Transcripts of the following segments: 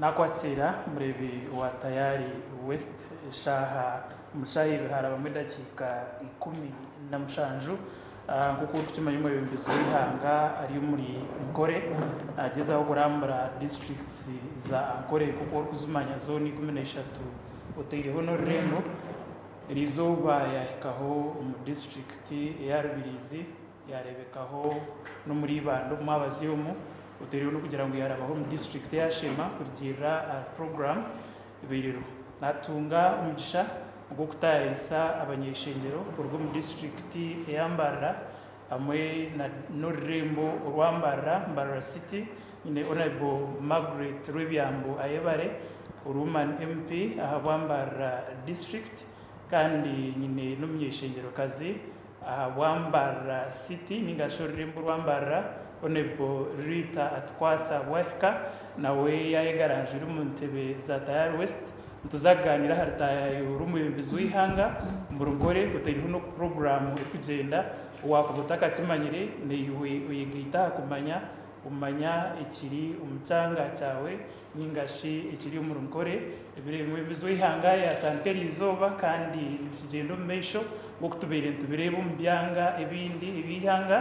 Nakwatiira mureebi wa Tayari West eshaaha omu bishaaha ibiri harabamu edakiika ikumi na mushanju. Nk'oku orikukimanya omwebembezi w'eihanga ari omuri Ankole nagyezaho kurambura districts za Ankole nk'oku orikuzimanya zoona ikumi na ishatu oteireho n'orurembo. Erizooba yahikaho omu district eya Rubirizi. Yaareebekaho n'omuri Ibanda omu mwabazi omu oteereho n'okugira ngu yaarabaho omu disiturikiti eya Sheema kurugiirira ahari puroguraamu ebairweho naatunga omugisha ogw'okutaayaayisa abanyeshengyero kuruga omu disiturikiti eya Mbarara hamwe n'orurembo orwa Mbarara, Mbarara City, nyine Honourable Margaret Rwebyambu Ayebare, Oruman MP ahabwa Mbarara District kandi nyine n'omunyeshengyerokazi Ahabwambarira City ninga shi orurembo rwambarira Honourable Ritah Atukwatsi ahabwahika nawe yayega aranjwire omu ntebe za Tayari West nituza kuganira aha ritaya y'orw'omwebembezi w'eihanga buri nkore ngu teriho n'oku program erikugyenda wakuba otakakimanyire naiwe oyegaite aha kumanya omanya ekiri omu kyanga kyawe Ninga shi ekiri omu rugore, ebiro ebimwe embizo y'eihanga yaatandika eriizooba kandi nikigyenda omu maisho nk'oku tubaire nitubireeba omu byanga ebindi eby'eihanga.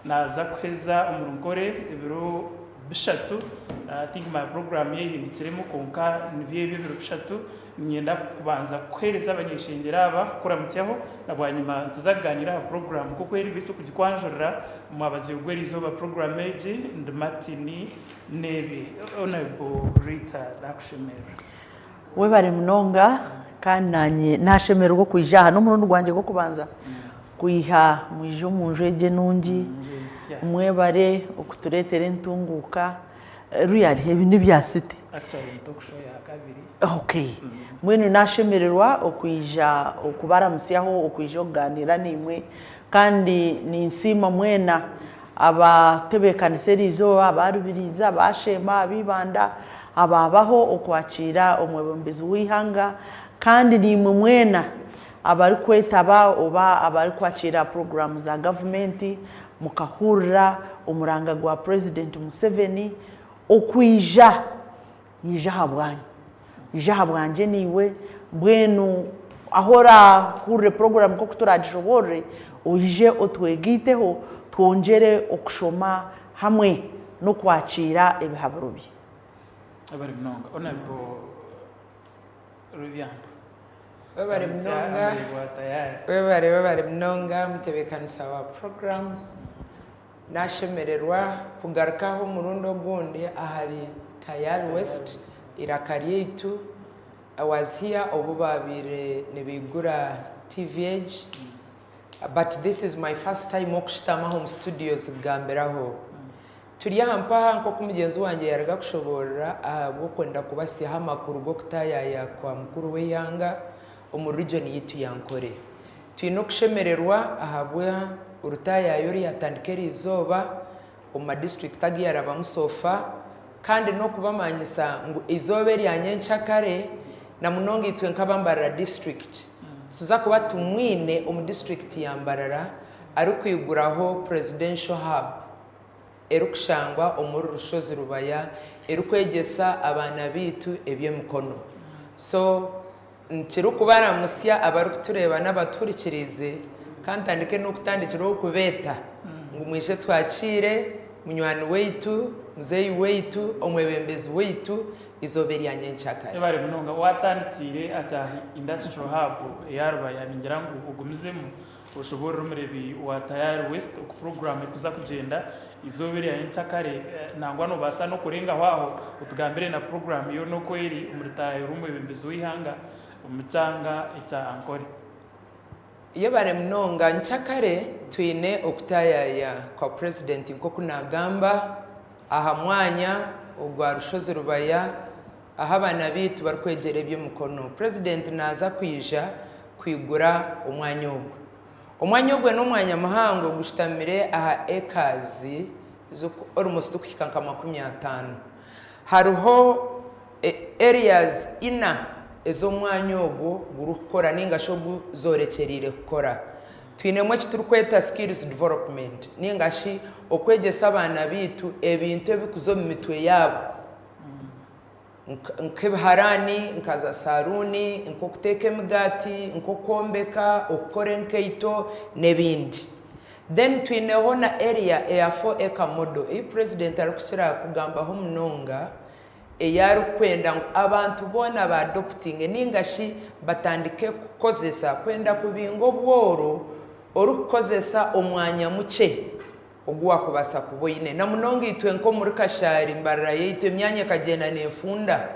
Naaza kuheza omu rugore ebiro bishatu. I think my program yehindukiremu kwonka nibyo ebyo ebiro bishatu. Niinyenda kubanza kuheereza abanyeshengyero aba, kukuramutsyaho na bwanyima nituza kugaaniira aha program nk'oku eri beitu kugikwanjurira. Mwabaziregwa eriizooba program egi, ndi Martin. Nebi Honourable Rita nakushemerera. Webare munonga kandi nanye nashemererwa okwija aha nomurundi gwangye gwokubanza kwiha mwija omunju egi enungi mwebare okuturetera entunguka really ebi nebya city Actually ni talk show yakabiri. Ok mbwenu nashemererwa okwija okubaramutsyaho okwija okuganira naimwe kandi ninsiima mwena Abatebeekanisa erizooba, aba Rubirizi, aba Sheema, aba Ibanda, abaabaho okwakiira omwebembezi w'eihanga kandi naimwe mwena abarikwetaba oba abarikwakiira puroguraamu za gavumenti mukahurira omuranga gwa Purezidenti Museveni okwiija. Ija aha bwange. Ija aha bwangye naiwe. Mbwenu ahu oraahurire puroguraamu nk'oku turaagishoboorore, oije otwegaiteho twongyere okushoma hamwe n'okwakiira ebihaburo bye. Webare munonga Honourable Rwebyamba. Webare munonga. Webare webare munonga mutebeekanisa wa puroguraamu. Naashemererwa kugarukaho omurundi ogundi ahari Tayal West, eiraka ryaitu. I was here obu baabaire nibaigura TVH but this is my first time okushutama aha omu studios kugambiraho. Turi aha mpaha nk'oku mugyenzi wangye yaaruga kushoboorora ahabw'okwenda kubatsyaho amakuru g'okutaayaaya kwa mukuru w'eihanga omu region yaitu ya Ankole. Twine okushemererwa ahabwa orutaayaayi oruyatandika eri izooba omu ma district agu yarabamu so far kandi n'okubamanyisa ngu eizooba erya nyentsya kare na munonga itwe nk'aba Mbarara district nituza kuba tumwine omu district ya Mbarara arikwiguraho Presidential Hub erikushangwa omuri Rushozi Rubaya erikwegyesa abaana baitu eby'emikono so Nikirikubaramutsya abarikutureeba n'abatuhurikiriize ka ntandike n'okutandikiraho kubeeta ngu mwije twakiire munywani waitu, muzeeyi waitu, omwebembezi waitu eizooba erya nyenkyakare. Webare munonga. Watandikiire ati aha Industrial Hub eya Rubaya? Ningira ngu ogumizemu. Oshoboorore Omurebi wa Tayari West oku puroguraamu erikuza kugyenda eizooba erya nyenkyakare, nangwa noobaasa n'okurengaho aho otugambire na puroguraamu yoona oku eri omuri Taahi ori omwebembezi w'eihanga omu kyanga ekya Ankole. Yebare munonga. Nyikyakare twine okutaayaaya kwa Purezidenti nk'oku naagamba aha mwanya ogwa Rushozi Rubaya. Ahu abaana baitu barikwegyera eby'emikono, Purezidenti naaza kwija kwigura omwanya ogwo. Omwanya ogwo n'omwanya muhango gushutamire aha acres almost kuhika nka makumi ataano. Hariho areas ina ezi omwanya ogwo gurikukora nainga shi ogu zoorekyereire kukora. Twinemu eki turikweta skills development nainga shi okwegyesa abaana baitu ebintu ebirikuza omu mitwe yaabo. nk'ebiharaani, nka zaasaruuni, nk'okuteeka emigaati, nk'okwombeka, okukora enkaito n'ebindi. Then twineho na area eya four acre model ei president arikukira kugambaho munonga ei arikwenda ngu abantu boona ba adoptinge ninga shi batandike kukozesa kwenda kubinga obworo orikukozesa omwanya mukye. ogu waakubaasa kuba oine. Na munonga itwe nk'omuri Kashari, embarara yaitu emyanya ekagyenda neefunda.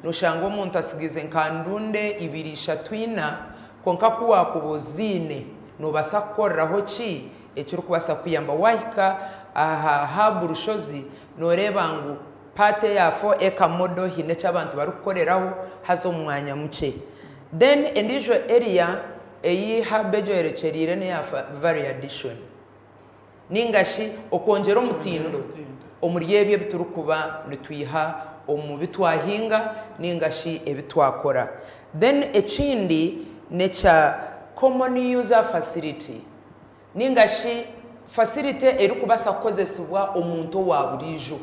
Nooshanga omuntu atsigiize nka ndunde ibiri, ishatu, ina, kwonka ku waakuba oziine, noobaasa kukoreraho ki ekirikubaasa kukuyamba. Waahika aha haabu Rushozi, nooreeba ngu paati eya fo eka modo haine eki abantu barikukoreraho, haza omu mwanya mukye. Then endiijo area ei haabu egyorekyereire n'eya Valley Addition. nainga shi okwongyera omutindo omuri ebyo ebi turikuba nitwiha omu bi twahinga nainga shi ebi twakora. Then ekindi n'ekya common user facility nainga shi facility erikubaasa kukozesibwa omuntu owa buriijo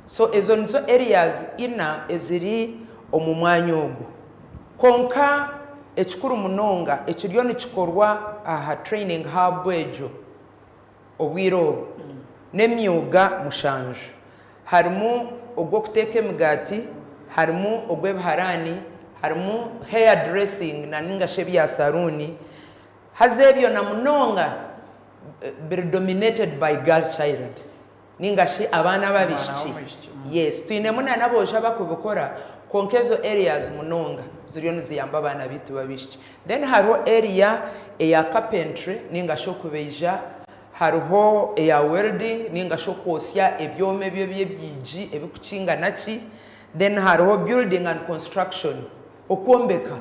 So ezo nizo areas ina eziri omu mwanya ogu. Kwonka ekikuru munonga ekiriyo nikikorwa aha Training Hub egyo obwire obu n'emyuga mushanju. Harimu ogw'okuteeka emigaati, harimu ogw'ebiharaani, harimu hair dressing naninga shi ebya saruuni. Haza ebyo na munonga biri dominated by girl child. Ninga shi abaana ab'abaishiki? Yes, twinemu na n'aboojo abakubikora, kwonka ezo areas munonga ziriyo niziyamba abaana baitu b'abaishiki. Then hariho area eya carpentry ninga shi okubaija, hariho eya welding ninga shi okwotsya ebyoma ebyo eby'ebyigi ebikukinga na ki, then hariho building and construction, okwombeka.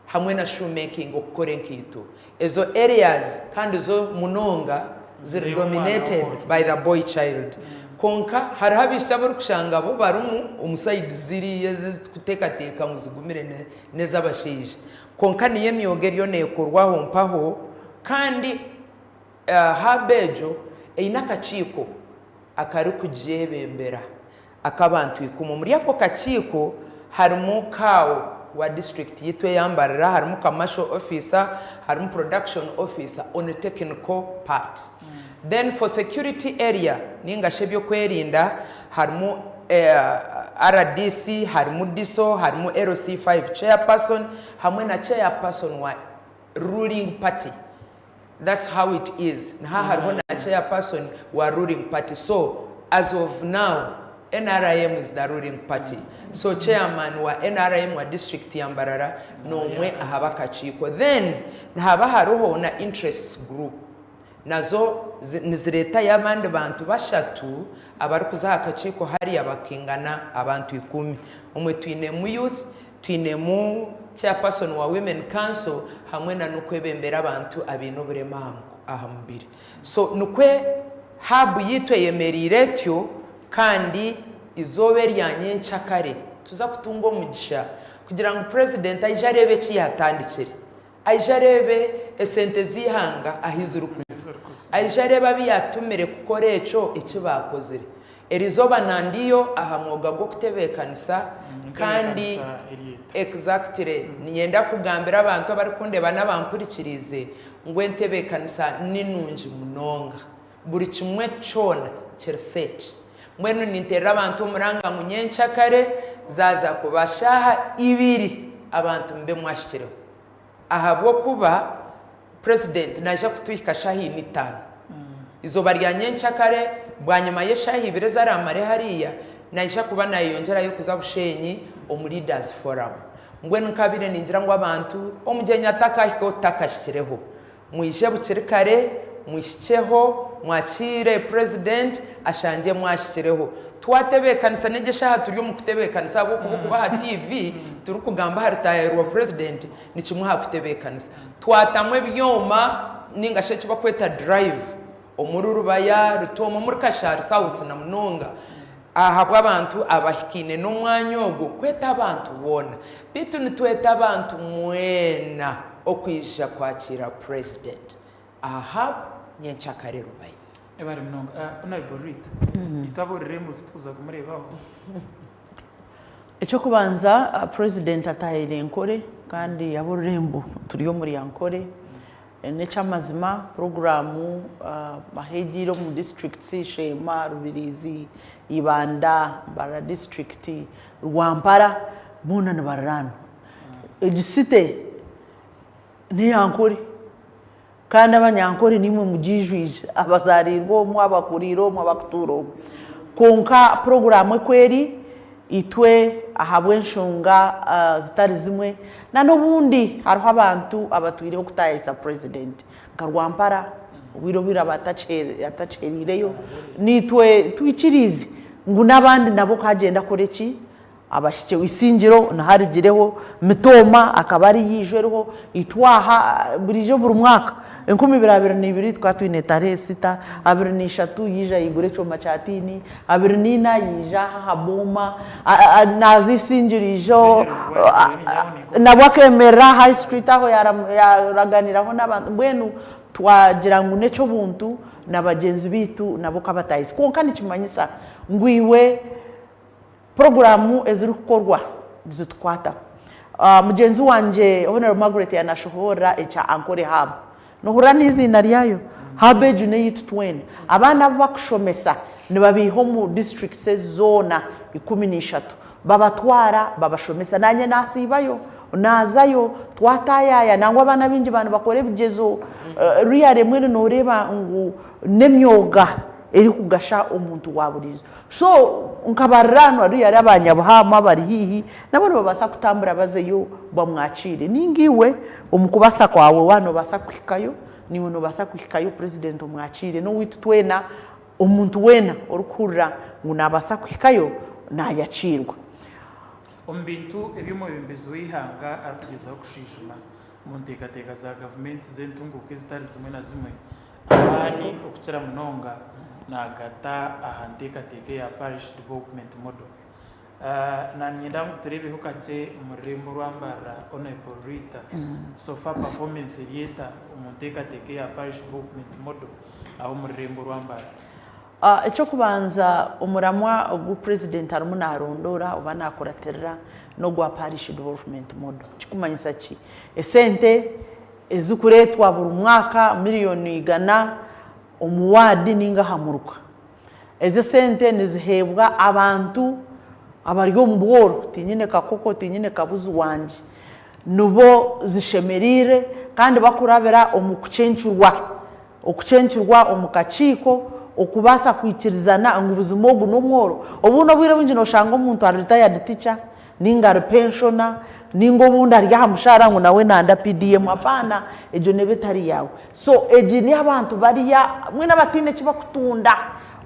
hamwe na shoemaking okukora enkaito ezo areas kandi zo munonga ziri dominated by the boy child kwonka hariho abaishiki abu orikushanga bo barimu omu sides ziriya ezi ezi turikuteekateeka ngu zigumire n'ez'abashaija kwonka niyo emyoga eriyo neekorwa aho mpaho kandi hub egyo eine akakiiko akarikugyebembera. Ak'abantu ikumi. Omuri ako kakiiko harimu Kaawo wa disiturikiti yaitu eya Mbarara, harimu Commercial Officer, harimu Production Officer on technical part. Then for security area ninga shi eby'okwerinda harimu rdc, harimu DISO, harimu LC5 Chairperson hamwe na Chairperson wa Ruling Party. That's how it is niha hariho na chair person wa ruling party so as of now nrm is the ruling party so chairman wa nrm wa district ya mbarara nomwe ahabakakiiko then nihaba hariho na interests group nazo niziretayo abandi bantu bashatu abarikuza ahakakiiko hariya bakingana abantu ikumi omwe twinemu youth Twinemu Chairperson wa Women Council hamwe na n'okwebembera abantu abaine oburema aha mubiri. So nikwo Hub yaitu eyemereire etyo kandi eizooba erya nyentsya kare tuza kutunga omugisha kugira ngu President aije areebe eki yaatandikire. Aije areebe esente z'eihanga ahu zirikuza. Aije areebe abu yaatumire kukora ekyo eki baakozire. Erizooba na ndiyo aha mwoga gw'okutebeekanisa kandi exactly niinyenda kugambira abantu abarikundeeba n'abampurikiriize ngu entebeekanisa ni nungi munonga. Buri kimwe kyona kiri set. Mbwenu ninterera abantu omuranga ngu nyenkya kare zaaza kuba shaaha ibiri abantu mube mwahikireo ahabw'okuba President naija kutuhika shaaha ina itaano. Izooba rya nyenkya kare bwanyima y'eshaaha ibiri ezi araamare hariya naija kuba naayeyongyerayo kuza Bushenyi omu Leaders Forum. Mbwenu nkabaire ningira ngu abantu omugyenyi atakahikeo takahikireho. Mwije bukiri kare mwihikyeho mwakiire president ashangye mwahikireho. Twatebekanisa negi eshaha turi omu kutebekanisa ahabwokuba okuba aha TV turi kugamba aha retire rwa president ni kimwe aha kutebekanisa. Twatamu ebyoma ninga shi eki bakweta drive omuri Rubaya, Rutoma, omuri Kashari south na munonga. Ahabw'abantu abahikaine n'omwanya ogwo kweta abantu boona, beitu nitweta abantu mwena okwija kwakiira President Ahab nyenkyakare Rubaye. Ebare munonga Honourable Ruhito. Ruhito abuurire ngu titukuza kumureebaho. Eky'okubanza President ataahaire Ankore kandi abuurire ngu turi omuri Ankore. N'ekyamazima puroguraamu ahu egiire omu districts Sheema, Rubiriizi, Ibanda, Mbarara district, Rwampara boona nibariraanwa. Egi city n'eya Ankore kandi abanyankore naimwe mugiijwire abazariirwe omwo, abakuriire omwo, abakutuura omwo. Kwonka puroguraamu oku eri, Itwe ahabw'enshonga zitari zimwe na n'obundi hariho abantu abatwireho kutaayayisa President nka Rwampara obwire obwiraba atakihereireyo, naitwe twikiriize ngu n'abandi nabo ku agyenda akore ki? Abahikyeho. Isingiro niho arigireho, Mitooma akaba ari yaiju eriho, itwe aha buriijo buri mwaka enkumi ibiri abiri na ibiri tukaba twine Ntare Esita, abiri na ishatu yaija yaigura ekyoma kya tiini, Abiri naine ayiija aha aha booma naaza eisingiriijo nabwo akemerera aha high street aho yaraganiiraho n'abantu mbwenu twagira ngu n'eky'obuntu na bagyenzi baitu nabo ka bataahize kwonka nikimanyisa ngu iwe puroguraamu ezirikukorwa nizitukwataho. Mugyenzi wangye Honore Margaret yanashohoorora ekya Ankole Hub Nohurira neiziina ryayo? Habeju neyeitu twena. Abaana abu bakushomesa nibabeiha omu districts ezi zoona ikumi neishatu. Babatwara babashomesa. Nanye nasiibayo, nazayo, twatayaya. Nangwa abaana baingi ba nibakora ebigyezo. Really mbwenu noreeba ngu nemyoga erikugasha omuntu waburiijo. So nkabarira aha nwaru yaari aba Nyabuhaama abari haihi nabo nibabaasa kutambura bazeyo bamwakiire nainga iwe omu kubaasa kwawe waaba nobaasa kuhikayo naiwe nobaasa kuhikayo President omwakiire nowaitu twena omuntu weena orikuhurira ngu nabaasa kuhikayo nayakiirwa. Omu bintu ebi omwebembezi w'eihanga arikugyezaho kushwijuma omu nteekateeka za gavumenti z'entunguuka ezitari zimwe na zimwe, amaani okukira munonga naagata aha nteekateeka eya Parish Development Model. Niinyenda ngu tureebeho kakye omu rurembo orwambarira Honourable Rita, so far performance eri eta omu nteekateeka eya Parish Development Model aho omu rurembo orwambarira? Eky'okubanza omuramwa ogu President arimu naarondoora oba naakuratirira n'ogwa Parish Development Model. Kirikumanyisa ki? Esente. ezirikureetwa buri mwaka miriyoni igana omu waadi nainga aha muruka. Ezi esente niziheebwa abantu abari omu bworo, tiinyine kakoko, tiinyine kabuzi wangye, nibo zishemereire kandi bakurabira omu kucencurwa okucencurwa omu kakiiko okubaasa kwikirizana ngu buzima ogu n'omworo. Obundi obwire bwingi nooshanga omuntu ari retired teacher, ninga ari pensioner ninga obundi ari aha mushaara ngu nawe nanda PDM apaana egyo neeba etari yaawe so egi neyabantu bariya mbwenu abataine eki bakutunda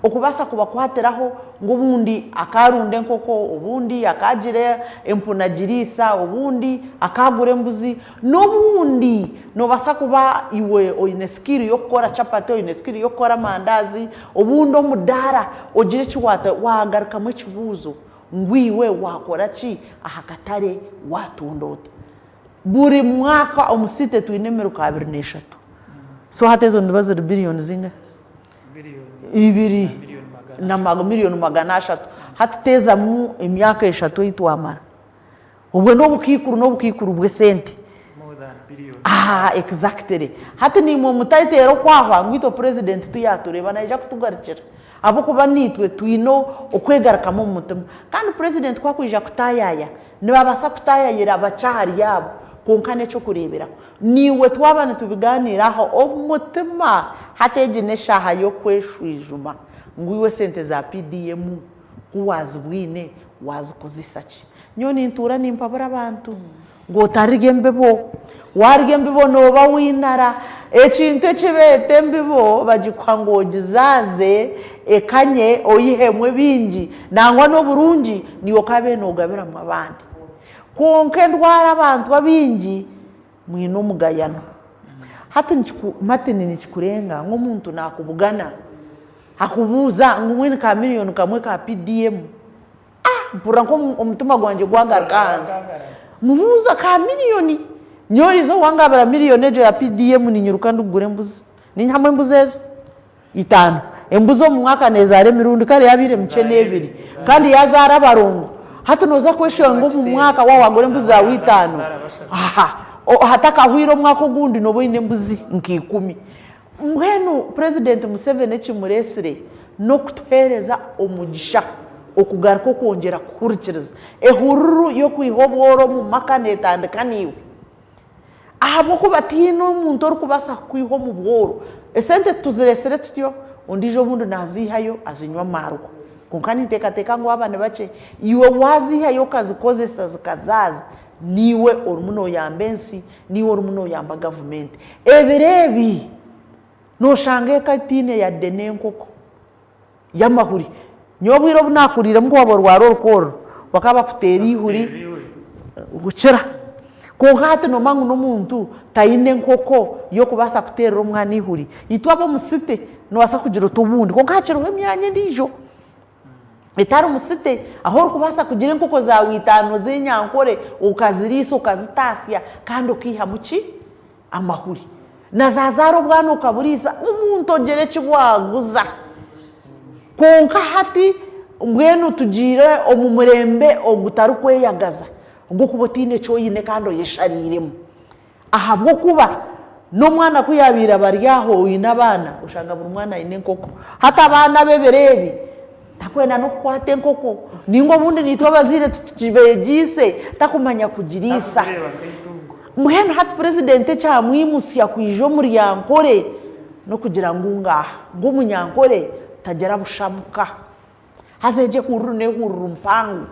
okubaasa kubakwatiraho ngu obundi akaarunda enkoko obundi akaagira empunu agiriisa obundi akaagura embuzi n'obundi nobaasa kuba iwe oine skill yokukora chapati oine skill yokukora amandaazi obundi omudaara ogire eki waata waagarukamu ekibuuzo ngu iwe waakora ki aha katare, waatunda ota. Buri mwaka omu siite twine emiruka abiri n'eshatu. So hati ezo niziba ziri biriyoni zingahi? Ibiri na miriyoni magana ashatu. Hati teezamu emyaka eshatu ei twamara. Obwe ni obukaikuru n'obukaikuru bw'esente. More than billions. Aha, exactly. Hati naimwe mutateera okwahwa ngu itwe President tu yaatureeba naija kutugarukira. Ahabw'okuba naitwe twine o, okwegarukamu omu mutima. Kandi President ku akwija kutaayaaya, nibabaasa kutaayaayira bakye ahari abo, kwonka n'eky'okureeberaho. Naiwe twaba nitubigaaniiraho, omutima, hati egi n'eshaaha y'okweshwijuma ngu iwe sente za PDM Ku waazibwine, waazikozesa ki? Nyowe nintuura nimpabura abantu ngu otarya embibo. Waarya embibo nooba w'einara. Ekintu eki beeta embibo bagikuha ngu ogizaaze ekanye oihemu ebingi nangwa n'oburungi niyo okaabaire noogabiramu abandi. Kwonka endwara abantu abaingi. Mwine omugayano. Hati nikiku, Martin, nikikurenga ngu omuntu naakubugana, akubuuza ngu mwine ka million kamwe ka PDM? Ah, mpurira nka omu, omutima gwangye gwagaruka ahansi. Mubuuza, ka million? Nyowe oriija owangambira million egyo ya PDM, ninyiruka ndikugura embuzi. Ninyihamu embuzi ezo. Itaano. Embuzi omu mwaka neezaara emirundi kare yaabaire mikye n'ebiri. Kandi yaazaara abarongo. Hati nooza kweshanga omu mwaka wa waagura embuzi zaawe itaano, ha, o, hatakahwaire omwaka ogundi nooba oine embuzi nka ikumi. Mbwenu Purezidenti Museveni ekimureetsire n'okutuheereza omugisha okugaruka okwongyera kuhurikiriza. Ehururu y'okwiha obworo omu maka neetandika naiwe. Ahabw'okuba tihaine omuntu orikubaasa kukwiha omu bworo. Esente tituzireetsire tutyo, ondiijo obundi naaziihayo azinywe amaarwa. Kwonka ninteekateeka ngu aba ni bakye. Iwe waaziihayo okazikozesa zikazaaza, niiwe orimu nooyamba ensi, niiwe orimu nooyamba gavumenti. Ebiro ebi nooshanga eka etaine yadde n'enkoko. y'amahuri. Nyowe obwire obu naakuriiremu ku waaba orwara orukoorro, bakaba bakuteera eihuri kukira. Kwonka hati noomanya ngu n'omuntu taine nkoko y'okubaasa kuteerera omwana eihuri. Itwe ab'omu site noobaasa kugira ota obundi kwonka hakiriho emyanya endiijo etari mu site ahu orikubaasa kugira enkoko zaawe itaano z'enyankore, okaziriisa, okazitaasya kandi okaihamu ki? Amahuri. Nazazaara obwana okaburiisa omuntu ogira eki waaguza. Kwonka hati mbwenu tugiire omu murembe ogutarikweyagaza ogw'okuba otaine eki oine kandi oyeshariiremu. Ahabw'okuba n'omwana ku yaabaire abari aho oine abaana, oshanga buri mwana aine enkoko. Hati abaana ab'ebiro ebi. Takwenda n'okukwata enkoko ninga obundi naitwe abazaire titukibegyeise takumanya kugiriisa. Mbwenu hati purezidenti ekyamwimutsya kwija omuri yankore n'okugira ngu ngaaha ngu omunyankore tagira busha muka. Haza egyo ehururu n'ehururu mpango.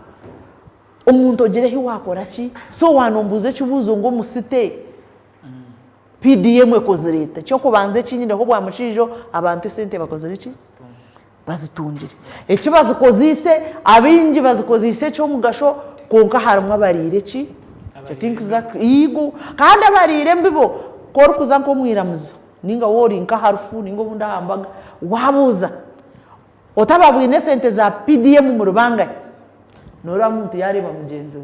Omuntu ogira ehi waakora ki? So waaba noombuuza ekibuuzo ngu omu site PDM ekozire eta? Eky'okubanza eki nyineho bwa mushaija ogu abantu esente bakozire ki? bazitungire. Eki bazikozeise, abaingi bazikozeise eky'omugasho kwonka harimu abariire ki? Igo, kandi abariire embibo, ku orikuza nk'omu iramizo nainga waaba ori nka harufu nainga obundi aha mbaga, waabuuza oti ababwine esente za PDM muri bangahi? Nooreeba muntu yaareeba mugyenzi we.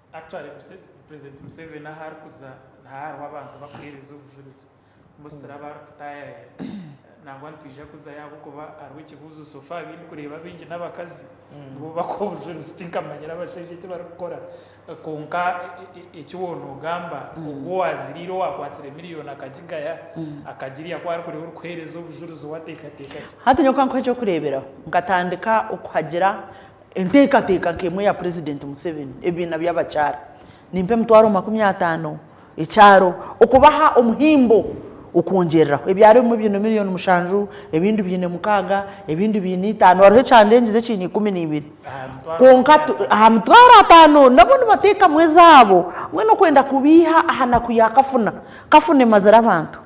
Actually president Museveni ahu arikuza naho hariho abantu bakuhereza obujurizi mbwenu turaba ari kutayaya nangwa nitwija kuzayo ahabwokuba hariho ekibuzo so far abu ndikureeba abaingi nabakazi nibo bakuha obujurizi tinkamanyire abashaija eki barikukora kwonka eki waba nogamba ogu owaziriire owakwatsire million akagigaya akagirya ku arikureeba orikuhereza obujurizi owatekateka ki. Hati nyowe kankuhe ekyokureeberaho nkatandika okuhagira Enteekateeka nk'emwe eya Purezidenti Museveni, ebibiina by'abakyara nimpa emitwaro makumi ataano ekyaro okubaha omuhimbo okwongyereraho. Ebyaro ebimwe biine miriyoni mushanju, ebindi biine mukaaga, ebindi biine itaano hariho ekyandengize ekiine ikumi n'eibiri. Kwonka aha mitwaro ataano nabo nibateekamu ezaabo mbwenu okwenda kubeiha aha naku yaakafuna kafuna emazire abantu.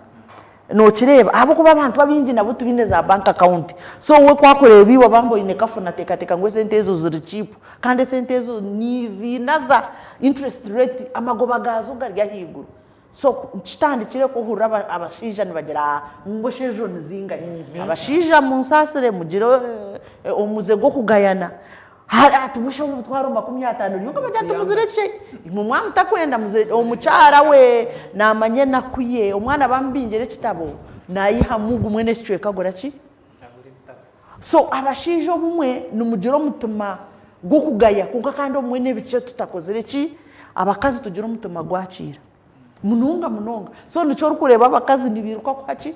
Nokireeba ahabwokuba abantu abaingi nabo tibaine za bank account so we ku akureeba iwe obambe oine kafu nateekateeka ngu esente ezo ziri cheap kandi esente ezo niziinaza interest rate amagoba gaazo gari ahaiguru so kitandikire ku ohurira abashaija nibagira ngu esha ezo nizingahi? Abashaija munsaasire mugire omuze gw'okugayana Hariho ati, Busha w'emitwaro makumi ataano rero nkaba ndatumuziire kye. Imwe mwamutakwenda muzire, omukyara we naamanya enaku ye. Omwana baamubingira ekitabo, naayihamu gumwe n'ekicweka agura ki? So abashaija obumwe nimugira omutima gw'okugaya kwonka kandi obumwe n'ebikye tutakozire ki? Abakazi tugira omutima gwakiira munonga munonga. So nikyo orikureeba abakazi nibairuka kuha ki?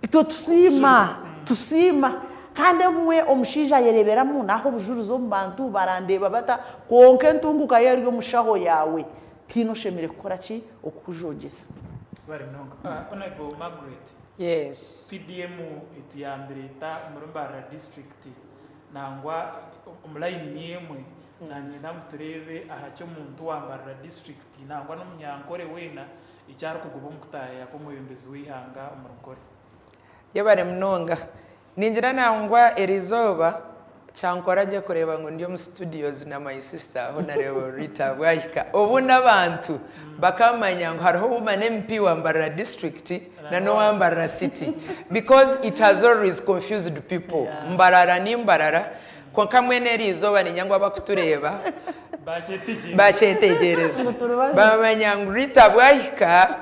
Itwe tusiima, tusiima. Kandi obumwe omushaija ayereberamu, Naha obujurizi omu bantu, barandeeba bata? Kwonka entunguka yo eri omu shaho yaawe. Tiina oshemereire kukora ki okukujogyesa. Honourable Margaret, PDM etuyambire eta omuri Mbarara district nangwa omu layini ni emwe? Nangenda ngu tureebe aha ki omuntu wa Mbarara district nangwa n'omunyankore weena Eki arikugoba omu kutaayaaya kw'omwebembezi w'eihanga omuri Nkore. Yebare munonga. Ningira nangwa erizooba kyankora gye kureeba ngu ndi omu studios na my sister Honarable Rita Bwahika obundi abantu bakamanya ngu hariho ouma na MP wa Mbarara district na nowa Mbarara city because it has always confused people Mbarara ni Mbarara Kwonka mbwenu eri izooba niinya ngu abakutureeba baakyetegyereza baamanya ngu Rita bwahika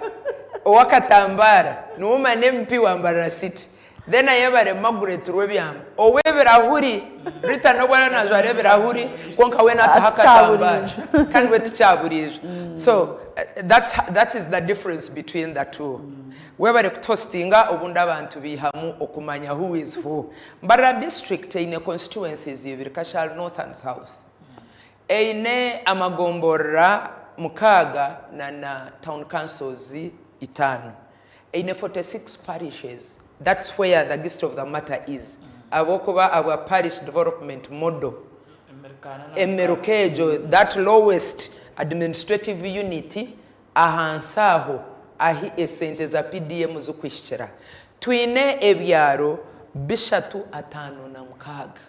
ow'akatambaara niwe omane MP wa Mbarara City then ayebare Margret Rwebyanga ow'ebirahuri. Rita n'obu ariyo naajwara ebirahuri kwonka weena ataho akatambaara kandi we ti kyaburiijo so that's that is the difference between the two. Webare kutuhositinga obundi abantu baihamu okumanya who is who Mbarara District eine constituencies ibiri, Kashal North and South. Eine amagomborora mukaaga na na town councils itaano. Eine 46 parishes. That's where the gist of the matter is. Ahabw'okuba abwa parish development model, emiruka egyo, that lowest administrative unit, Ahansi aho ahi esente za PDM zikuhikira, twine ebyaro bishatu ataano na mukaaga.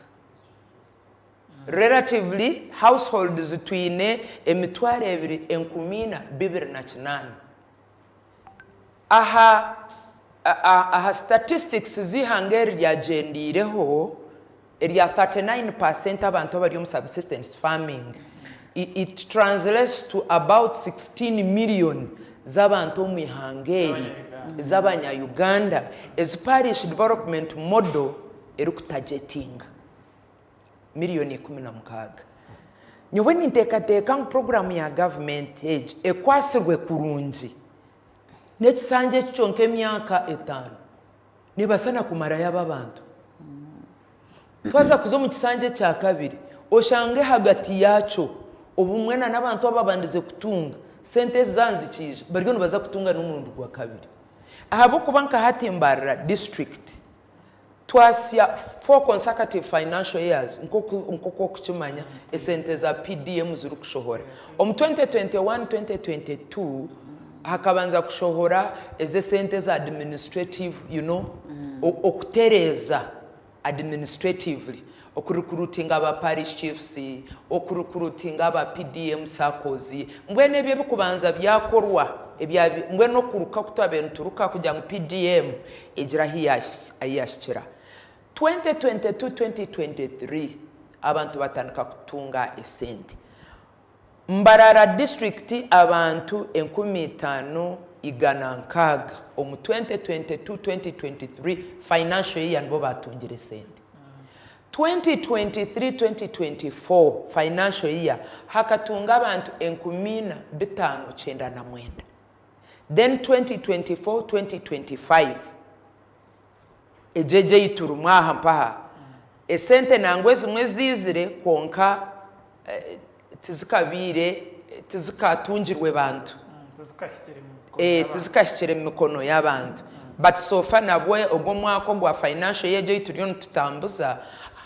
Relatively households twine emitwaro ebiri enkumi ina bibiri na kinaana. Aha aha statistics z'eihanga eri ryagyendiireho, Erya 39 per cent abantu abari omu subsistence farming it translates to about 16 million z'abantu omu ihanga eri z'abanya Uganda ezi parish development model eri ku targetinga million ikumi na mukaaga. Nyowe ninteekateeka ngu program ya government egi ekwasirwe kurungi n'ekisanja eki kyonka emyaka etaano Neebaasa na kumarayo abo abantu. Twaza kuza omu kisanja ekya kabiri, oshange ahagati yaakyo obumwe na n'abantu ababandize kutunga, sente ezi zaaha nizikiija, bariyo nibaza kutunga n'omurundi gwa kabiri. Ahabw'okuba nka hati Mbarara district twasya four consecutive financial years nk'oku nk'oku orikukimanya esente za PDM zirikushohora. Omu twenty twenty one, twenty twenty two, Hakabanza kushohora eze esente eza administrative you know okutereeza administratively oku recruitinga aba parish chiefs, oku recruitinga aba PDM saccos mbwenu ebyo ebikubanza byakorwa ebya mbwenu okuruka ku twabaire nituruka kugira ngu PDM egire ahu yahikira 2022, 2023 abantu batandika kutunga esente. Mbarara District Abantu enkumi itaano igana nkaaga omu 2022-2023 financial year nibo baatungire esente. 2023-2024 financial year hakatunga abantu enkumi ina bitaano kyenda na mwenda. Then 2024-2025 Egyo egyo ei turimu aha mpaha. Esente nangwa ezimwe ziizire kwonka tizikabaire, tizikatungirwe bantu. Tizikahikire mu mikono y'abantu. But so far nabwo ogu omwaka ogwa financial year egi ei turiyo nitutambuza,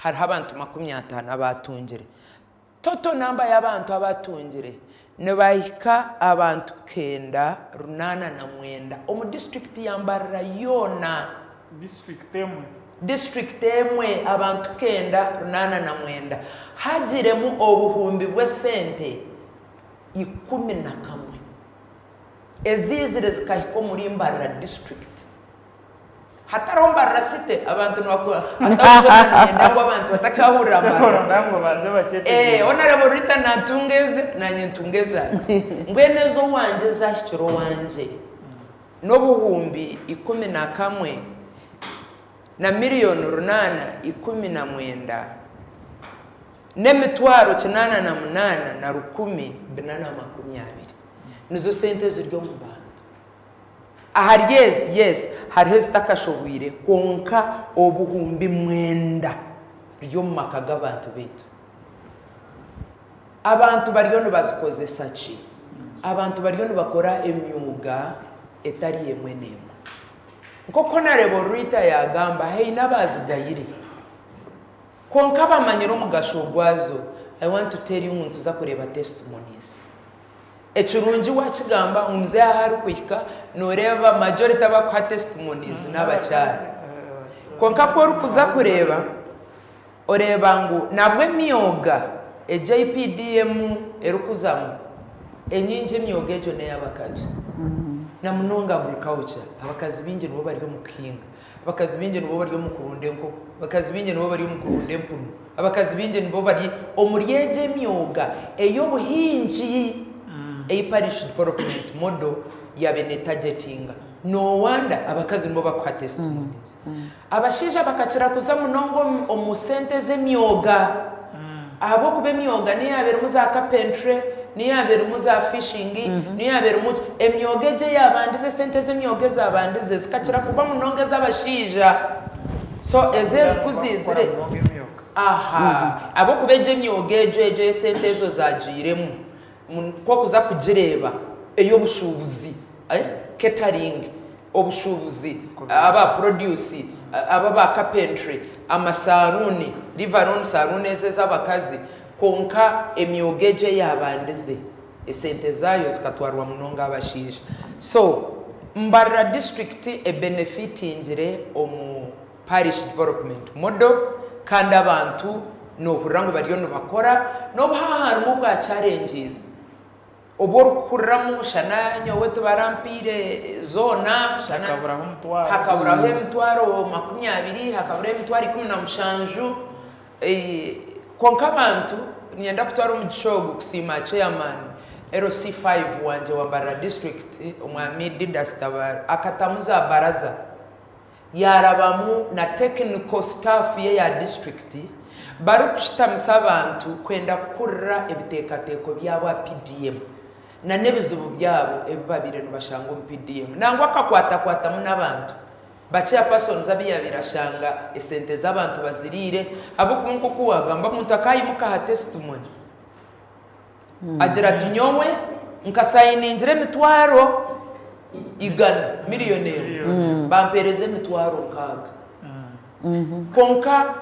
hariho abantu makumi ataano abaatungire. Toto namba y'abantu abaatungire nibahika abantu kenda runaana na mwenda omu disiturikiti ya Mbarara yoona. Disiturikiti emwe. Disiturikiti emwe abantu kenda runaana na mwenda hagiremu obuhumbi bw'esente ikumi na kamwe eziizire zikahika omuri Mbarara disiturikiti. Hatariho mbarira site abantu nibakora hatariho kyona niinyenda ngu abantu batakyahurira mbarira. Nda ngu baze bakyetegyereze. Hoona araba orita naatunga eze naanye ntunga ezangye. Mbwenu ez'owangye ezaahikire owangye n'obuhumbi ikumi na kamwe na miriyoni runaana ikumi na mwenda n'emitwaro kinaana na munaana na rukumi bina na makumi abiri. Nizo sente eziri omu bantu. Ahari ezi, yes, hariho ezitakashoboire, kwonka obuhumbi mwenda buri omu maka g'abantu baitu. Abantu bariyo nibazikozesa ki? Abantu bariyo nibakora emyuga etari emwe n'emwe. Nk'oku Honourable Rita yaagamba, haine abaazigayire, kwonka baamanyire omugasho gwazo. I want to tell you ngu nituza kureeba testimonies. Ekirungi wakigamba ngu muzehe ahu arikuhika noreeba majority abakuha testimonies nabakyara kwonka ku orikuza kureeba oreeba ngu nabwo emyoga egi eyi PDM erikuzamu enyingi emyoga egyo neyabakazi namunonga agriculture abakazi bingi nibo bari omukuhinga Abakazi baingi nibo bari omu kurunda enkoko. Abakazi baingi nibo bari omu kurunda empunu. Abakazi baingi nibo bari omuri egi emyoga ey'obuhingi ei Parish Development Model yaabaire neetagetinga. No wonder abakazi nibo barikuha testimonies. Abashaija bakakira kuza munonga omu sente z'emyoga. Ahabw'okuba emyoga niyo yaaba erimu za carpentry, niyo yaaba erimu za fishing, niyo yaaba erimu ki, emyoga egyo eyaabandize, esente z'emyoga ezaabandize zikakira kuba munonga ez'abashaija. So ezo Mbwenu eziku nibaakukora ziizire, munonga emyoga. aha, ahabw'okuba egyo emyoga egyo egyo esente ezo zaagiiremu. Ku okuza kugireeba, ey'obushuubuzi, catering, obushuubuzi, aba produce, aba ba carpentry, amasaaruuni, leave alone saaruuni ezo ez'abakazi, kwonka emyoga egyo eyaabandize, esente zaayo zikatwarwa munonga abashaija. So, mbarira disiturikiti ebenefitingire omu Parish Development Model, kandi abantu noohurira ngu bariyo nibakora, n'obu haaba harimu obwa challenges obu orikuhuriramu shana nyowe tibarampaire zoona, shana Hakaburaho omutwaro hakaburaho gumwe. emitwaro makumi abiri, hakaburaho emitwaro ikumi na mushanju, eh, kwonka abantu, niinyenda kutwara omugisha ogu kusiima Chairman, LC five, wangye wa Mbarara District, Omwami Didas Tabaro, akatamu za baraza, yaarabamu na technical staff ye ya disiturikiti barikushitamisa abantu kwenda kuhurira ebiteekateeko byabo aha PDM nana ebizibu byabo ebi babaire nibashanga omu PDM nangwa akakwatakwatamu n'abantu ba Chairpersons abu yaabaire ashanga esente z'abantu baziriire ahabw'okuba nk'oku waagamba omuntu akaayimuka aha testimony Agira ati, Nyowe nkasayiningira emitwaro igana, miriyoni emwe, bampeereza emitwaro nkaaga. Kwonka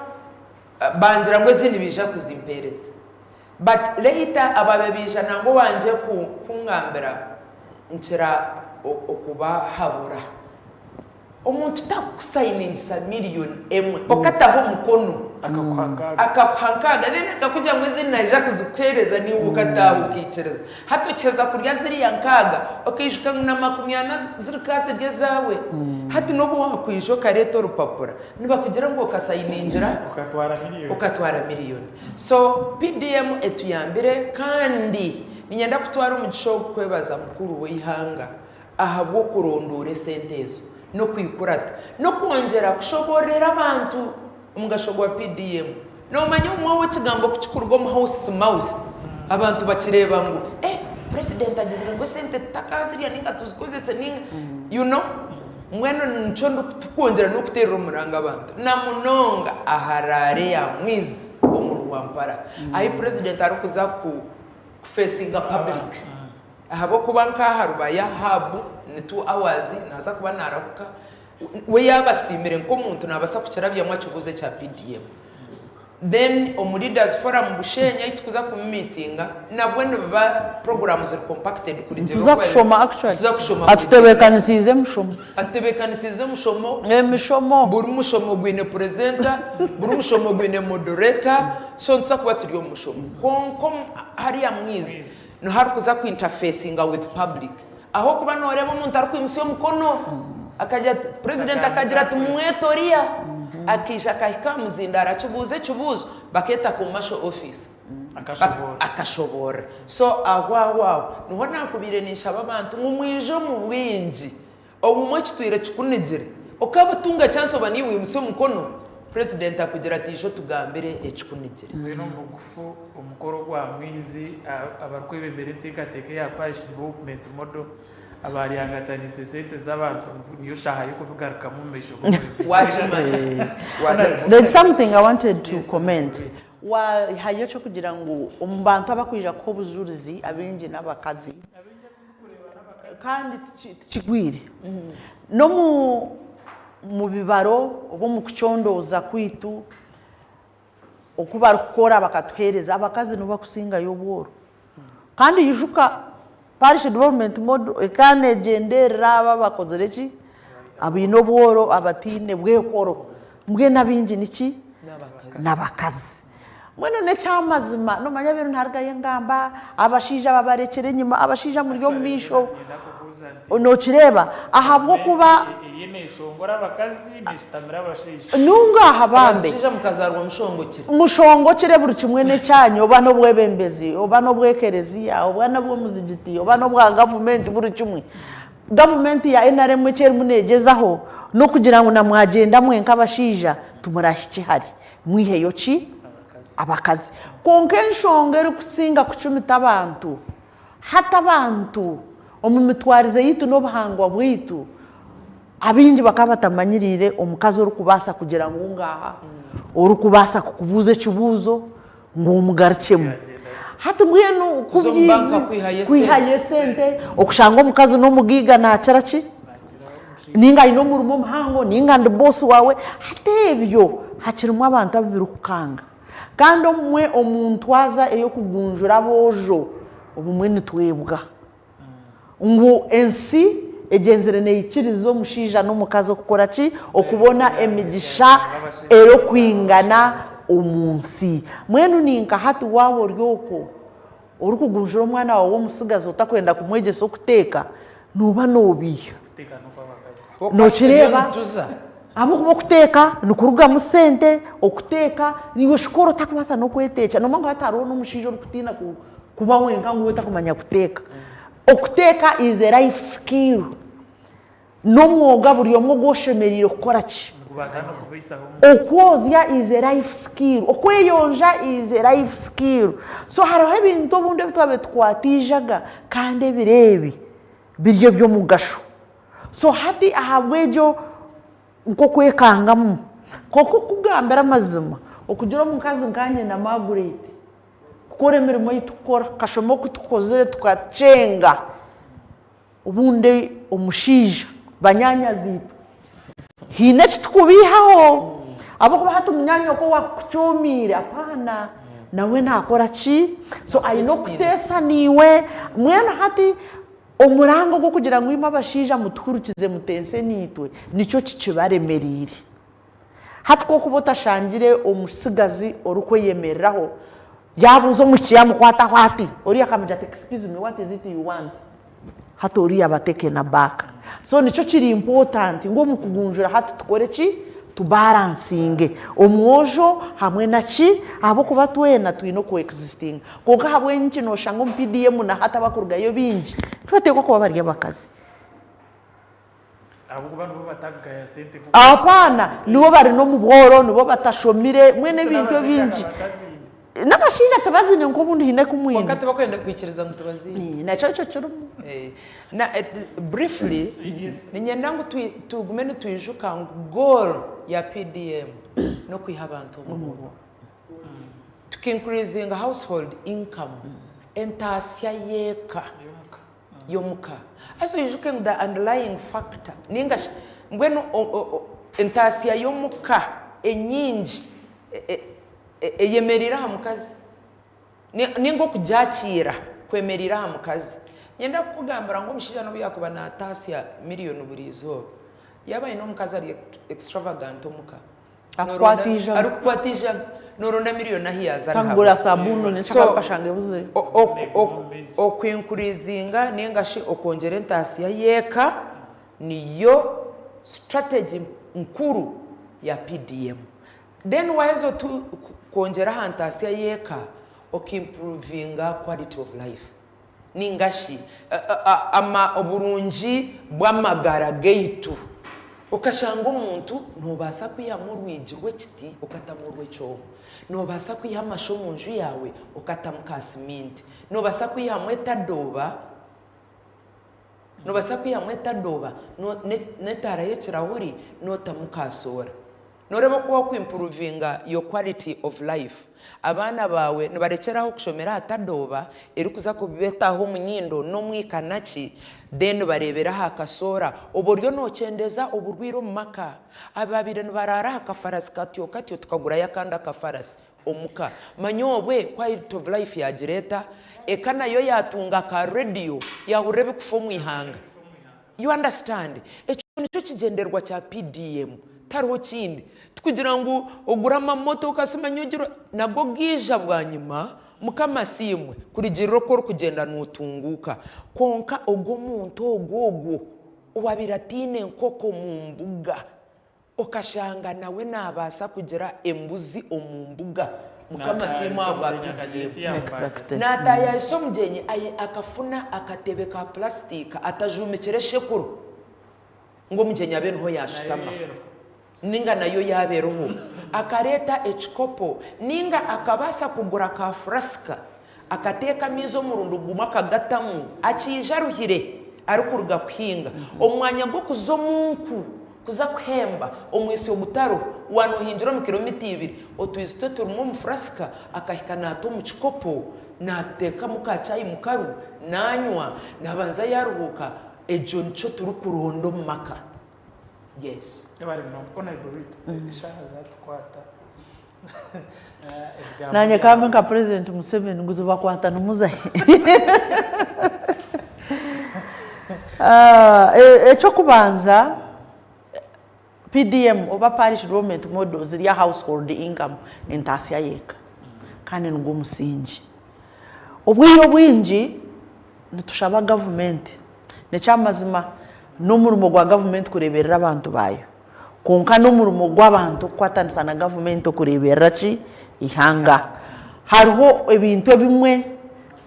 bangira ngu ezindi nibaija kuzimpeereza. But later abaabaire baija nangwa owangye kungambira nkira okubahabura. Omuntu takukusainingisa million emwe okataho omukono. Akakuha nkaaga. Akakuha nkaaga then akakugira ngu ezindi naija kuzikuheereza naiwe okataaha okaikiriza. Hati okiheza kurya ziriya nkaaga okaijuka ngu na makumi ana zirikaazirya ezaawe. Hati n'obu waakwija okareeta orupapura nibakugira ngu okasainiingira. Okatwara million. Okatwara million. So PDM etuyambire kandi niinyenda kutwara omugisha ogu kwebaza mukuru w'eihanga ahabw'okurondoora esente ezo n'okwikurata n'okwongyera kushoboororera abantu omugasho gwa PDM. Noomanya obumwe ahu ekigambo ku kikuruga omu House to mouth, abantu bakireeba ngu eh Purezidenti agizire ngu esente tutakaazirya nainga tuzikozese nainga you know. Mbwenu nikyo turikwongyera n'okuteerera omuranga abantu na munonga aha raare ya Mwizi omu Rwampara ahi Purezidenti arikuza kufeesinga paburiki. Ahabw'okuba nk'aha rubaya hub ni two hours naaza kuba naarahuka, we yaaba asiimire nk'omuntu naabaasa kukirabyamu akibuuze ekya PDM. Then omu Leaders Forum Busheenya ei turikuza kumitinga nabwo nibiba puroguraamu ziri compacted kuri gye Nituza ahabw'okuba kushoma actually. nituza kushoma kuri gye. Atutebeekanisiize emishomo. Atutebeekanisiize emishomo. Emishomo. Buri mushomo gwine purezenta, buri mushomo gwine modoreta, so nituza kuba turi omu mushomo. Kwonka omu hariya mwizi Niho arikuza ku interfecinga with public ahabw'okuba nooreeba omuntu arikwimutsya omukono akagira ati, Purezidenti akagira ati, Mumwete oriya. Akaija akahika aha muzindaaro akibuuza ekibuuzo, bakeeta Commercial Officer. Akashoboora. Akashoboora. So ahwaho aho niho naakubaire ninshaba abantu ngu mwije omu bwingi Obumwe kitwire kikunigire. Okabutunga chance oba niiwe oyimutsya omukono, President akugira ati ishe otugambire ekikunigire. Twine omu bugufu omukoro ogw'amaizi abarikwebembera enteekateeka eya Parish Development Model abaaryangataniise sente z'abantu ngu niyo shaaha y'okubigarukamu omu maisho g'omwebembezi. Waahayo eky'okugira ngu omu bantu abarikwija kuha obujuurizi abaingi n'abakazi. kandi tikigwire n'omu bibaro oba omu kucondooza kwaitu oku barikukora bakatuheereza, abakazi nibo barikusingayo obworo. Kandi ijuka Parish Development Model ekaba neegyenderera abo abakozire ki, abaine obworo abataine bwehoro, mbwenu abaingi niki, n'abakazi. Mbwenu n'ekyamazima nomanya benu ntarugayo engamba abashaija ababarekyera enyima abashaija muri omumaisho nokireeba ahabwokuba nunga aha bambi mushongokire buri kimwe nekyanyu oba nobwebembezi oba nobwekereziya oba nobwomuzigiti oba nobwa gavumenti buri kimwe gavumenti ya nrm ekyerimu negyezaho nokugira ngu namwagyenda mwenka abashaija timurahikye hare. Mwiheyo ki? Abakazi. Kwonka enshonga erikusinga kucumita abantu hati abantu omu mitwarize yaitu n'obuhangwa bwaitu, abaingi bakaba batamanyiriire omukazi orikubaasa kugira ngu ngaaha, orikubaasa kukubuuza ekibuuzo ngu omugarukyemu. Hati mbwenu ku byaizi kwihayo esente, okushanga omukazi n'omugaiga naakira ki? ninga aine omurimo omuhango ninga ndi boss wawe hati ebyo hakirimu abantu abu birikukanga kandi obumwe omu ntwaza ey'okugunjura aboojo obumwe nitwebwa ngu ensi egyenzire neikiriza omushaija n'omukazi okukora ki? Okubona emigisha erikwingana omu nsi. Mbwenu ni nka hati waaba ori okwo, Orikugunjura omwana waawe w'omutsigazi otakwenda kumwegyesa okuteeka, nooba noobiiha. Nookireeba? Ahabw'okuba okuteeka nikurugamu sente, okuteeka naiwe oshukore otakubaasa n'okweteekyera. Nooba ngu hati hariho n'omushaija orikutiina kuba wenka ngu otakumanya kuteeka. Okuteeka is a life skill. N'omwoga buri omwe ogu oshemereire kukora ki? Okwozya is a life skill. Okweyonja is a life skill. So hariho ebintu obundi ebi twabaire tukwatiijaga kandi ebiro ebi biri eby'omugasho. So hati ahabw'egyo nk'okwekangamu. Kwonka okukugambira amazima, okugira omukazi nkanye na Margaret kukora emirimo ei tukora, kashoma oku tukozire tukakyenga. Obundi omushaija, banyaanyazi-itwe, haine eki tukubaihaho ahabw'okuba hati munyaanya-itwe owaakukucoomiire apaana, nawe naakora ki? So aine okuteesa naiwe. Mbwenu hati omurango gw'okugira ngu imwe abashaija mutuhurukize muteese naitwe, nikyo kikibaremereire. Hati ku orikuba otashangire omutsigazi orikweyemereraho, Yaabuuza omwishiki yaamukwataho ati, Oriya akamugira ati, Excuse me, what is it you want? Hati oriya aba taken aback. So nikyo kiri important ngu omu kugunjura hati tukore ki? Tubaransinge omwojo hamwe na ki? Ahabw'okuba twena twine okuexistinga. Kwonka ahabw'enki nooshanga omu PDM na hati abakurugayo baingi nibateekwa kuba bari abakazi? Abaana nibo bari nomubworo, nibo batashomire mbwenu ebintu ebingi nabashaija tibaziine nka obundi haine kumwine kwonka tibakwenda kwikiriza ngu tibaziine nakyo nikyo kirimu briefly niinyenda ngu tugume nitwijuka ngu goal ya PDM nokwiha abantu omubumwe tuka increasinga household income entaasya yeka. y'omu ka. Haza oijuke ngu the underlying factor ninga shi mbwenu entaasya y'omu ka enyingi eyemereire aha mukazi ninga okugyakiira kwemereire aha mukazi. Niinyenda kukugambira ngu omushaija n'obu yaakuba naataasya miriyoni buri izooba, yaaba aine omukazi ari extravagant omu ka, Akukwata eijaga. Arikukwata eijaga. Noronda miriyoni ahu yaaza Kangura nihabura. sabuuni nanye So, kyakabi kashanga ebuzire. o- o- Oneeka o- omu maizi. Okwinkurizinga ninga shi okwongyera entaasya y'eka niyo strategy nkuru ya PDM. Then waaheza otu ku- kwongyera aha ntaasya y'eka, okimpuruvinga quality of life. ninga shi oburungi bw'amagara gaitu. Okashanga omuntu noobaasa kwihamu orwigi rw'ekiti okatamu orw'ekyooma. Noobaasa kwiha amasho omu nju yaawe okatamu ka siminti. Noobaasa kwihamu etadooba, noobaasa kwihamu etadooba n'etaara y'ekirahuri nootamu ka soora. Noreeba oku waku improvinga your quality of life. Abaana baawe nibarekyeraho kushomera aha tadooba erikuza kubetaho omunyindo nomu ikanaki then bareebere aha kasoora obu oriyo nokyendeeza oburwiire omu maka. Abaabaire nibaraara aha kafarasi katyo katyo tukagurayo akandi akafarasi omuka. Manya obwe quality of life yagira eta? Eka nayo yatunga ka radio yahurira ebikufa omu ihanga. You understand? Ekyo nikyo kigyendererwa kya PDM. Tariho kindi. Tikugira ngu ogure amamotoka simanya ogire nago gaija bwanyima Mukama asiimwe kurigirira oku orikugyenda notunguuka. Kwonka ogwo omuntu ogwo ogwo owabaire ataine nkoko omu mbuga Okashanga nawe nabaasa kugira embuzi omu mbuga. Mukama siimwe ahabwa pdf. Exactly. Naataayaayisa omugyenyi aye akafuna akatebe ka pulaasitiika atajuumikire eshekuro ngu omugyenyi abe niho yaashutama nainga nayo yaaba eriho, akareeta ekikopo nainga akabaasa kugura ka furasika Akateeka amaizi omurundi gumwe akagatamu, akiija aruhire arikuruga kuhinga. Omu mwanya gw'okuza omu nku kuza kuhemba omwitsyo ogutariho, waaba noohingira omu kiromita ibiri, otwizi twe turimu omufurasika akahika naata omu kikopo, naateekamu ka chai mu karu naanywa, naabanza yaaruhuuka. Egyo nikyo turikuronda omu maka. Yes. Ebare munonga, kuko na Iboruiti eshaaha zaatukwata. Nanye kambe nka president museveni ngu zibakwatanimuzahi ekyokubanza PDM oba parish development model ziri aha household income entatsya yeka kandi nigwo omusingi obwire obwingi nitushaba gavumenti nekyamazima nomurimo gwa gavumenti kureberera abantu bayo Kwonka n'omurimo gw'abantu kukwataanisa na gavumenti okureeberera ki? Eihanga. Hariho ebintu ebimwe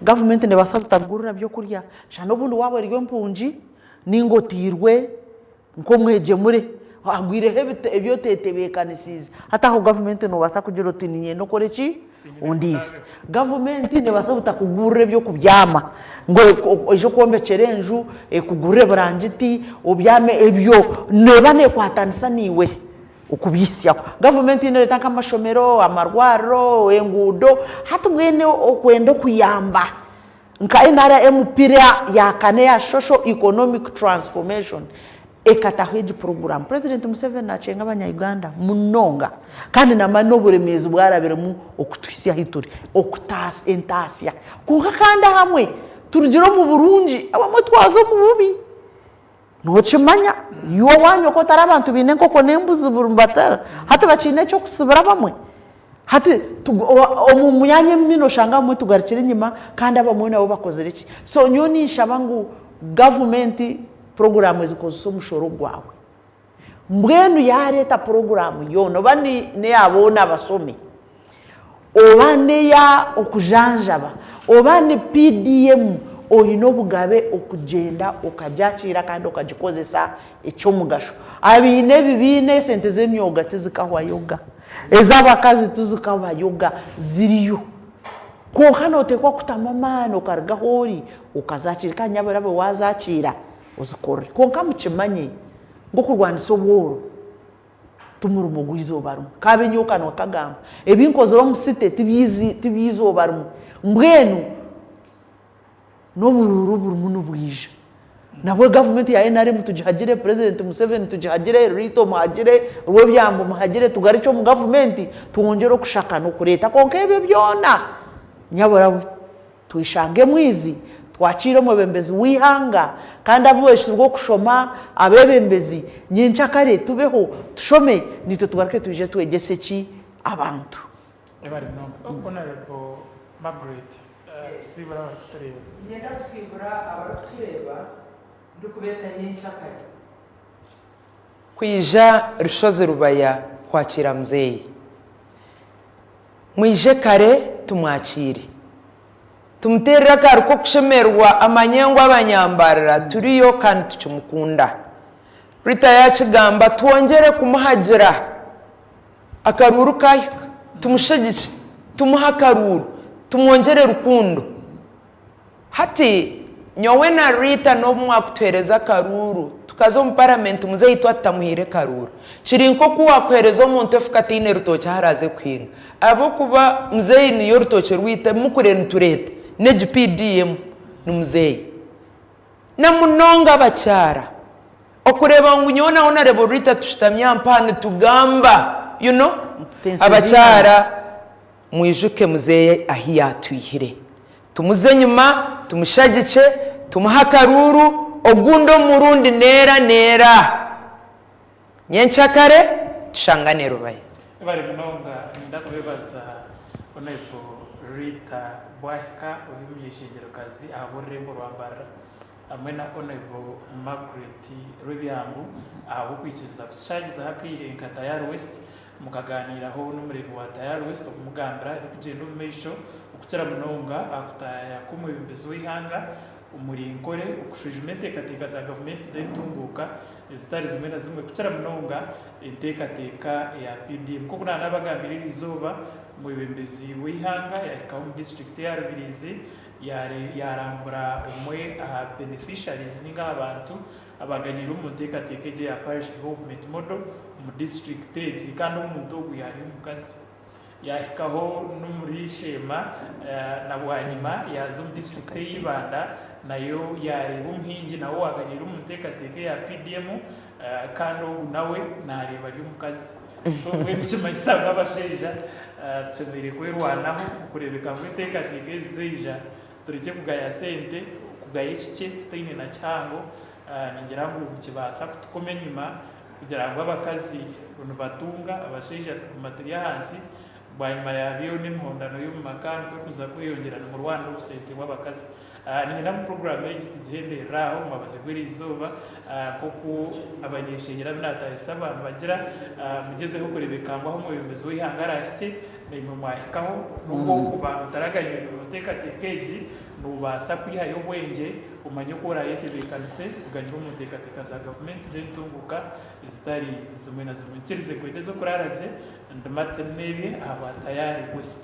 gavumenti neebaasa butagurira by'okurya shana n'obundi waaba ori empungi nainga oteirwe nk'omwegyemure hagwireho ebi oteetebeekanisiize hati aho gavumenti noobaasa kugira oti niinyenda okore ki? Ondiise, gavumenti neebaasa obutakugurira eby'okubyama ngu oije okwombekyera enju, ekugurire eburangiti obyame, ebyo neeba neekwatanisa naiwe okubiitsyaho. Gavumenti neereeta nk'amashomero, amarwariro, enguudo, hati mbwenu okwenda okuyamba nka NRM pira ya kane eya Social Economic Transformation, ekataho egi puroguramu, Purezidenti Museveni naakyenga Abanya-Uganda munonga kandi naamanya n'oburemeezi obu arabiremu okutuhitsya ahu turi, okutaasa entaasya kwonka kandi ahamwe turugire omu burungi abamwe twaza omu bubi. Nookimanya iwe owaanyu oku otari abantu baine enkoko n'embuzi buri hati bakiine eky'okusibira abamwe. Hati omu myanya emwe noshanga abamwe tugarukire enyima kandi abamwe nabo bakozire ki? So nyowe ninshaba ngu gavumenti puroguramu ezikozesa omushoro gwawe. Mbwenu yareeta puroguramu yoona oba neya boona abashomi, oba neya okujanjaba, oba ni PDM oyine obugabe okugyenda okagyakiira kandi okagikozesa ekyomugasho. Abaine ebi biine esente zemyoga tizikahwayoga. Ez'abakazi tizikabayoga, ziriyo. Kwonka nooteekwa kutamu amaani okaruga ahu ori okazaakiira kandi nyaabwe oraabe waazaakiira ozikorere. Kwonka mukimanye ngu okurwanisa obworo ti murimo gw'eizooba rimwe. Kaabe nyowe kanwa kagamba, ebi nkozire omu site ti by'eizooba rimwe. Mbwenu. N'oburuuru burimu nibwija. Nabwe gavumenti ya nrm tugihagire, purezidenti Museveni tugihagire, Ruto muhagire, Rwobyambo muhagire, tugarukye omu gavumenti twongyere okushaka n'okureeta kwonka ebyo byona nyabura we tweshange emwizi twakiire omwebembezi w'eihanga kandi abubaisirwe okushoma, abebembezi nyencakare tubeho tushome naitwe tugaruke twije twegyese ki abantu. Niinyenda kusiibura abarikutureeba ndikubeeta nyenkyakare. Kwija Rushozi Rubaya kwakiira muzeeyi. Mwije kare tumwakiire. Tumuteerere akaari k'okushemererwa amanye ngu abanyambarara turiyo kandi tukimukunda. Rita yaakigamba twongyere kumuhagira. Akaruuru kaahika, tumushagikye, tumuhe akaruuru, tumwongyere rukundo. Hati, nyowe na Rita n'obu mwakutuheereza akaruuru, tukaza omu paramenti muzeeyi itwe atutamuhaire karuuru. Kiri nk'oku waakuheereza omuntu efuka ataine rutookye ahu araaze kuhinga. Ahabw'okuba muzeeyi niyo rutookye rwaitu, ebi mukuriire nitureeta n'egi PDM ni muzeeyi. na munonga abakyara okureeba ngu nyowe nawe na Rebolrita tushutami aha mpaha nitugamba you know abakyara mwijuke muzeeyi ahu yaatwihire tumuze enyima tumushagikye tumuhe akaruuru ogundi omurundi neera neera. Nyenkyakare tushangane Rubaya. Mwebare munonga niinyenda kubeebaza Honourable Rita Bwahika Omunyeshengyero-kazi ahabw'orurembo rwa Mbarara hamwe na Honourable Margret Rwebyangu ahabw'okwikiriza kutushangizaho akaire nka Tayari West Mukagaaniiraho n'Omureebi wa Tayari West okumugambira ebirikugyenda omu maisho, okukira munonga aha kutaaya kw'omwebembezi w'eihanga omuri nkore okushwijuma enteekateeka za gavumenti z'entunguuka ezitari zimwe na zimwe kukira munonga enteekateeka ya PDM. Nk'oku naanaabagambiire eri izooba, omwebembezi w'eihanga yaahikaho omu disiturikiti ya Rubiriizi yaarambura omwe aha beneficiaries nainga aha bantu Abaaganiire omu nteekateeka egyo eya Parish Development Model omu disiturikiti egi kandi omuntu ogwo yaari omukazi. Yaahikaho n'omuri Sheema na bwanyima yaaza omu disiturikiti ey'e Ibanda nayo yaareeba omuhingi nawe owaaganiire omu nteekateeka eya PDM kandi ogu nawe naareeba ari omukazi. So mbwenu nikimanyisa ngu abashaija tushemereire kwerwanaho okureebeka ngu enteekateeka ezi zaija Turekye kugaya sente, kugaya ekikye tutaine na kihango, ningira ngu nikibaasa kutukoma enyima kugira ngu abakazi nibatunga, abashaija tuguma turi ahansi, bwanyima yaabyo n'emihondano y'omu maka nikwo kuza kweyongyera nimurwana obusente bw'abakazi. Niinyenda ngu puroguraamu egi tugihenderere aho omu mwabazyo gw'eri izooba nk'oku abanyeshengyero abu naataahisa baamubagira, mugyezeho kureebeka ngu ahu omwebembezi w'eihanga araahikye, Naimwe mwahikaho, nobwo okuba otaraganyirwe mu nteekateeka egi, noobaasa kwihayo obwengye omanye oku oraayetebeekanise kuganyirwa omu nteekateeka za gavumenti z'entunguuka ezitari zimwe na zimwe. Nkirize kwenda ez'okuraara gye ndi Martin Nebye aha ba Tayari West.